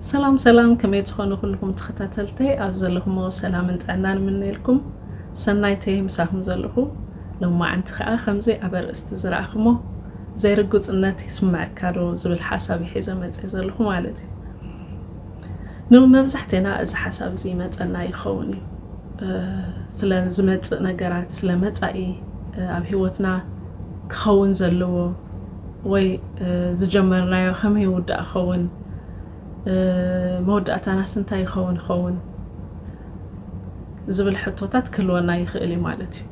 ሰላም ሰላም ከመይ ዝኾኑ ኩልኹም ተኸታተልተይ ኣብ ዘለኹሞ ሰላምን ጥዕናን ምነየልኩም ሰናይተይ ምሳኹም ዘለኹ ሎማዓንቲ ከዓ ከምዚ ኣብ ኣርእስቲ ዝረኣኹሞ ዘይርጉፅነት ይስምዐካ ዶ ዝብል ሓሳብ ይሒዘ መፅእ ዘለኹ ማለት እዩ ንመብዛሕቴና እዚ ሓሳብ እዚ ይመጸና ይኸውን እዩ። ስለ ዝመጽእ ነገራት፣ ስለ መጻኢ ኣብ ህይወትና ክኸውን ዘለዎ ወይ ዝጀመርናዮ ከመይ ይውዳእ ክኸውን፣ መወዳእታናስ እንታይ ይኸውን ይኸውን ዝብል ሕቶታት ክህልወና ይኽእል እዩ ማለት እዩ።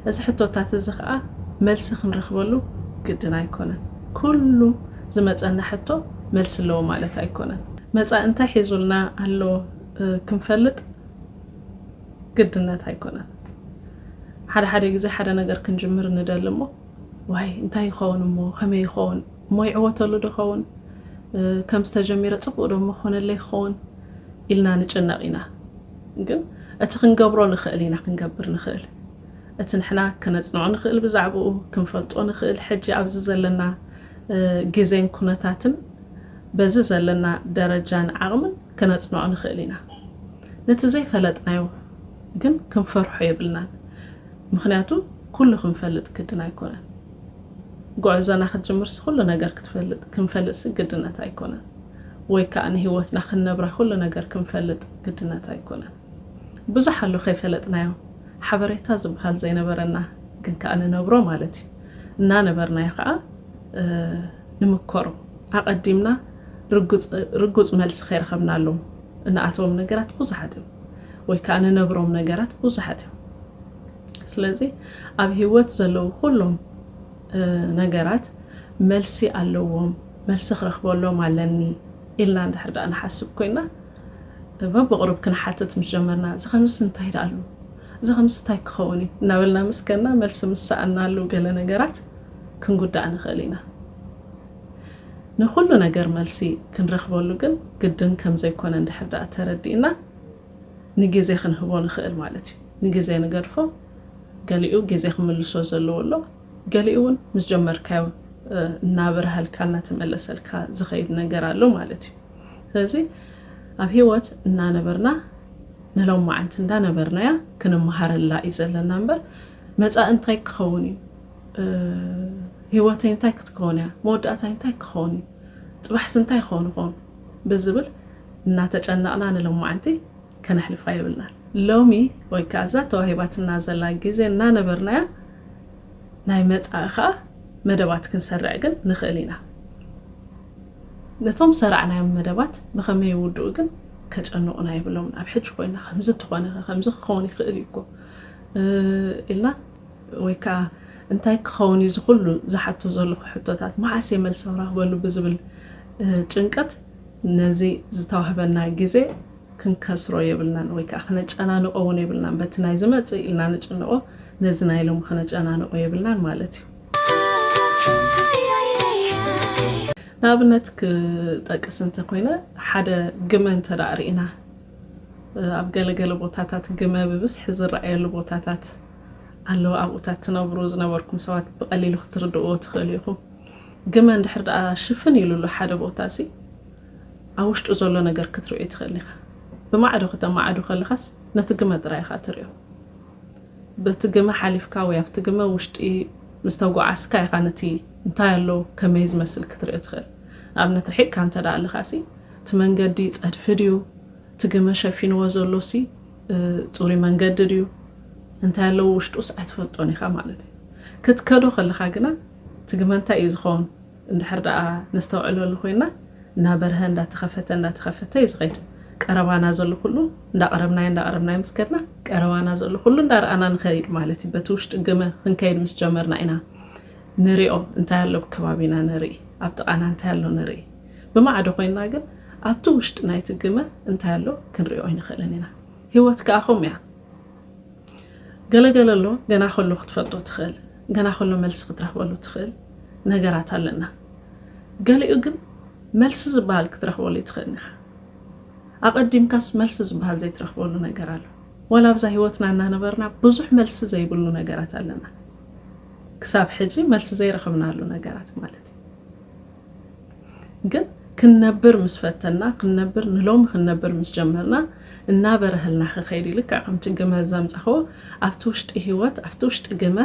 እዚ ሕቶታት እዚ ከኣ መልሲ ክንረኽበሉ ግድን ኣይኮነን። ኩሉ ዝመጸና ሕቶ መልሲ ኣለዎ ማለት ኣይኮነን። መጻኢ እንታይ ሒዙልና ኣሎ ክንፈልጥ ግድነት ኣይኮነን። ሓደ ሓደ ግዜ ሓደ ነገር ክንጅምር ንደሊ እሞ ዋይ እንታይ ይኸውን እሞ ከመይ ይኸውን እሞ ይዕወተሉ ዶ ኸውን ከምዚ ተጀሚረ ጽቡቅ ዶ እሞ ክኾነለይ ክኸውን ኢልና ንጭነቅ ኢና። ግን እቲ ክንገብሮ ንኽእል ኢና ክንገብር ንኽእል እቲ ንሕና ከነጽንዖ ንኽእል ብዛዕብኡ ክንፈልጦ ንኽእል ሕጂ ኣብዚ ዘለና ግዜን ኩነታትን በዚ ዘለና ደረጃን ዓቕምን ከነጽንዖ ንኽእል ኢና። ነቲ ዘይፈለጥናዮ ግን ክንፈርሖ የብልናን ምኽንያቱ ኩሉ ክንፈልጥ ግድን ኣይኮነን። ጉዕዞና ክትጅምርሲ ኩሉ ነገር ክትፈልጥ ክንፈልጥሲ ግድነት ኣይኮነን ወይ ከኣ ንህይወትና ክንነብራ ኩሉ ነገር ክንፈልጥ ግድነት ኣይኮነን። ብዙሕ ኣሎ ከይፈለጥናዮ ሓበሬታ ዝብሃል ዘይነበረና ግን ከኣ ንነብሮ ማለት እዩ እናነበርናዮ ከኣ ንምከሮ ኣቐዲምና ርጉጽ መልሲ ከይረኸብናሎም እንኣትዎም ነገራት ብዙሓት እዮም ወይ ከኣ ንነብሮም ነገራት ብዙሓት እዮም ስለዚ ኣብ ሂወት ዘለዉ ኩሎም ነገራት መልሲ ኣለዎም መልሲ ክረክበሎም ኣለኒ ኢልና እንድሕር ደኣ ንሓስብ ኮይና እባ ብቕሩብ ክንሓትት ምስ ጀመርና፣ እዚ ኸምዝስ እንታይ ደኣሉ? እዚ ኸምዝስ እንታይ ኪኸውን እዩ? እናበልና ምስ ከድና፣ መልሲ ምስ ሰኣንናሉ ገለ ነገራት ክንጕዳእ ንኽእል ኢና። ንዅሉ ነገር መልሲ ክንረኽበሉ ግን ግድን ከም ዘይኰነ እንድሕር ደኣ ተረዲእና፣ ንግዜ ኽንህቦ ንኽእል ማለት እዩ። ንግዜ ንገድፎ፣ ገሊኡ ግዜ ኺምልሶ ዘለዎ ኣሎ፣ ገሊኡ እውን ምስ ጀመርካዮ እናበርሃልካ እናተመለሰልካ ዚኸይድ ነገር ኣሎ ማለት እዩ። ስለዚ ኣብ ሂወት እናነበርና ንሎማዓንቲ እንዳ ነበርናያ ክንማሃረላ እዩ ዘለና እምበር መጻኢ እንታይ ክኸውን እዩ ሂወተይ እንታይ ክትከውን እያ መወዳእታይ እንታይ ክኸውን እዩ ጽባሕስ እንታይ ክኸውን ይኸውን ብዝብል እናተጨነቕና ንሎማዓንቲ ከነሕልፋ የብልናን ሎሚ ወይ ከኣ እዛ ተዋሂባትና ዘላ ግዜ እናነበርናያ ናይ መጻኢ ከኣ መደባት ክንሰርዕ ግን ንኽእል ኢና። ነቶም ዝሰራዕናዮም መደባት ብኸመይ ይውድኡ ግን ከጨንቑና የብሎምን። ኣብ ሕጂ ኮይና ከምዚ እንተኾነኸ ከምዚ ክኸውን ይኽእል እዩ እኮ ኢልና ወይ ከኣ እንታይ ክኸውን እዩ እዚ ኩሉ ዝሓቶ ዘለኹ ሕቶታት መዓስ እየ መልሲ ክረኽበሉ ብዝብል ጭንቀት ነዚ ዝተዋህበና ግዜ ክንከስሮ የብልናን ወይ ከኣ ክነጨናንቖ እውን የብልናን። በቲ ናይ ዝመጽእ ኢልና ንጭነቖ ነዚ ናይ ሎሚ ክነጨናንቖ የብልናን ማለት እዩ። ንኣብነት ክጠቅስ እንተ ኮይነ ሓደ ግመ እንተ ርኢና ኣብ ገለገለ ቦታታት ግመ ብብዝሒ ዝረኣየሉ ቦታታት ኣለዉ ኣብኡታት ትነብሩ ዝነበርኩም ሰባት ብቐሊሉ ክትርድእዎ ትኽእሉ ኢኹም ግመ እንድሕር ደኣ ሽፍን ኢሉሉ ሓደ ቦታ እሲ ኣብ ውሽጡ ዘሎ ነገር ክትርእዩ ትኽእል ኢኻ ብማዕዶ ክተማዕዱ ከለኻስ ነቲ ግመ ጥራይ ኢኻ ትርእዮ በቲ ግመ ሓሊፍካ ወይ ኣብቲ ግመ ውሽጢ ምስ ተጓዓዝካ ኢኻ ነቲ እንታይ ኣሎ ከመይ ዝመስል ክትርኢ ትኽእል። ንኣብነት ርሒቕካ እንተድኣ ኣለኻሲ እቲ መንገዲ ጸድፊ ድዩ፣ እቲ ግመ ሸፊንዎ ዘሎሲ ጽሩይ መንገዲ ድዩ፣ እንታይ ኣለዎ ውሽጡስ ኣይትፈልጦን ኢኻ ማለት እዩ። ክትከዶ ከለኻ ግና እቲ ግመ እንታይ እዩ ዝኸውን? እንድሕር ደኣ ነስተውዕለሉ ኮይንና እናበርሀ እንዳተኸፈተ እንዳተኸፈተ እዩ ዝኸይድ። ቀረባና ዘሎ ኩሉ እንዳቐረብናዮ እንዳቐረብናዮ ምስ ከድና ቀረባና ዘሎ ኩሉ እንዳረኣና ንኸይድ ማለት እዩ። በቲ ውሽጢ ግመ ክንከይድ ምስ ጀመርና ኢና ንሪኦ እንታይ ኣሎ ብከባቢና ንርኢ ኣብ ጥቓና እንታይ ኣሎ ንርኢ። ብማዕዶ ኮይንና ግን ኣብቲ ውሽጢ ናይቲ ግመ እንታይ ኣሎ ክንሪኦ ኣይንኽእልን ኢና። ህይወት ከኣ ከምኡ እያ። ገለ ገለ ኣሎ ገና ከሎ ክትፈልጦ ትኽእል ገና ከሎ መልሲ ክትረኽበሉ ትኽእል ነገራት ኣለና ገሊኡ ግን መልሲ ዝበሃል ክትረኽበሉ ይትኽእል ኢኻ ኣቐዲምካስ መልሲ ዝበሃል ዘይትረኽበሉ ነገር ኣሎ ወላ ኣብዛ ሂወትና እናነበርና ብዙሕ መልሲ ዘይብሉ ነገራት ኣለና ክሳብ ሕጂ መልሲ ዘይረኽብናሉ ነገራት ማለት እዩ ግን ክንነብር ምስ ፈተና ክንነብር ንሎሚ ክንነብር ምስ ጀመርና እናበረሀልና ክኸይድ እዩ ልክዕ ከምቲ ግመ ዘምጸኽዎ ኣብቲ ውሽጢ ህይወት ኣብቲ ውሽጢ ግመ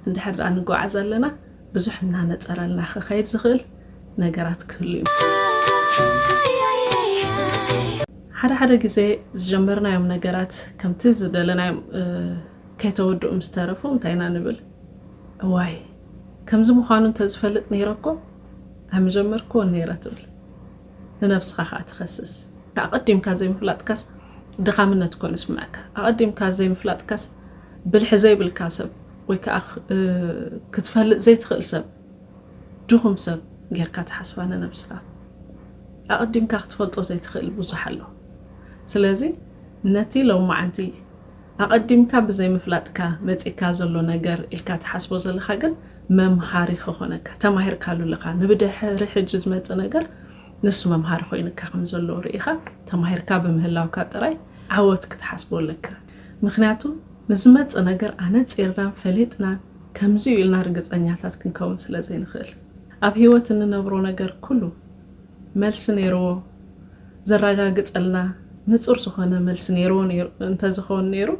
እንድሕር ደኣ ንጓዓዝ ኣለና ብዙሕ እናነጸረልና ክኸይድ ዝኽእል ነገራት ክህሉ እዩ። ሓደ ሓደ ግዜ ዝጀመርናዮም ነገራት ከምቲ ዝደለናዮም ከይተወድኡ ምስ ተረፉ እንታይ ኢና ንብል እዋይ ከምዚ ምዃኑ እንተዝፈልጥ ነይረ'ኮ ኣይምጀመርክዎን ነይረ ትብል። ንነብስኻ ከኣ ትኸስስ። ኣቐዲምካ ዘይምፍላጥካስ ድኻምነት ኮይኑ ይስምዐካ። ኣቐዲምካ ዘይምፍላጥካስ ብልሒ ዘይብልካ ሰብ ወይ ከኣ ክትፈልጥ ዘይትኽእል ሰብ፣ ድኹም ሰብ ጌርካ ትሓስባ ንነብስኻ። ኣቐዲምካ ክትፈልጦ ዘይትኽእል ብዙሕ ኣሎ። ስለዚ ነቲ ሎማዓንቲ ኣቐዲምካ ብዘይ ምፍላጥካ መጺካ ዘሎ ነገር ኢልካ ትሓስቦ ዘለኻ ግን መምሃሪ ከኾነካ ተማሂርካሉ ኣለኻ ንብድሕሪ ሕጂ ዝመጽእ ነገር ንሱ መምሃሪ ኮይንካ ከም ዘሎ ርኢኻ ተማሂርካ ብምህላውካ ጥራይ ዓወት ክትሓስቦ ኣለካ ምኽንያቱ ንዝመጽእ ነገር ኣነጺርናን ፈሊጥናን ከምዚዩ ኢልና ርግጸኛታት ክንከውን ስለ ዘይንኽእል ኣብ ሂወት እንነብሮ ነገር ኩሉ መልሲ ነይርዎ ዘራጋግጸልና ንጹር ዝኾነ መልሲ ነይርዎ ነይሩ እንተዝኸውን ነይሩ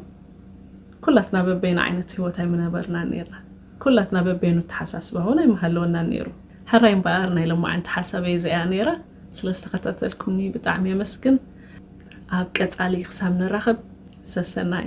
ኩላትና በበይና ዓይነት ሂወት ኣይምነበርናን ነይርና ኩላትና በበይኑ ኣተሓሳስባ ውን ኣይምሃለወናን ነይሩ ሕራይ እምበኣር ናይ ሎማዕንቲ ሓሳበይ እዚኣ ነይራ ስለ ዝተኸታተልኩምኒ ብጣዕሚ የመስግን ኣብ ቀጻሊ ክሳብ ንራኸብ ሰሰናዩ።